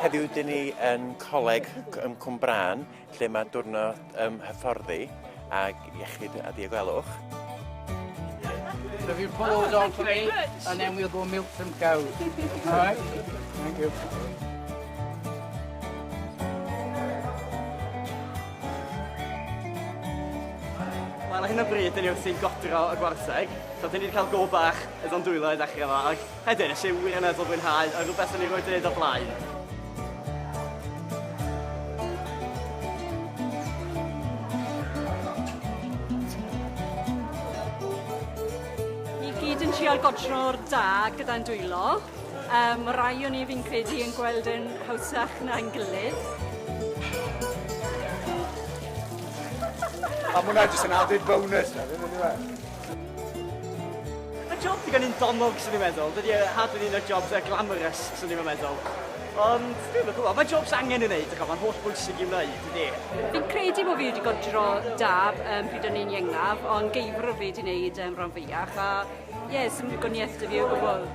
Heddiw dyn ni yn coleg ym Cwmbrân lle mae diwrnod ym hyfforddi ag iechyd a diogelwch. Have you followed on for me and then we'll go milk some cows. All right? Thank you. Wel ar hyn o bryd dyn ni wrthi'n godro y gwartheg, so dyn ni 'di cael go bach o Don Dwylo i ddechrau efo, ac heddiw nes i wirioneddol fwynhau, a rhywbeth o'n i rioed 'di neud o'r blaen. Ni gyd yn trial godro'r da gyda'n dwylo. Um, rai o'n i fi'n credu yn gweld yn hawsach na'n gilydd. A mwna hwnna jyst yn added bonus na, ddim yn dweud. Y job digon yn donog, sy'n ni'n meddwl. Dydy e hardly un o'r jobs uh, glamorous, sy'n ni'n meddwl. Ond, dwi'n meddwl, mae jobs angen yn neud, ac mae'n holl bwysig i'w wneud, dydy. Fi'n credu bod fi wedi godro da um, pryd o'n i'n iengaf, ond geifr o fi wedi wneud um, rhan fwyach, a ie, yeah, sy'n gwniaeth dy fi o gwbl.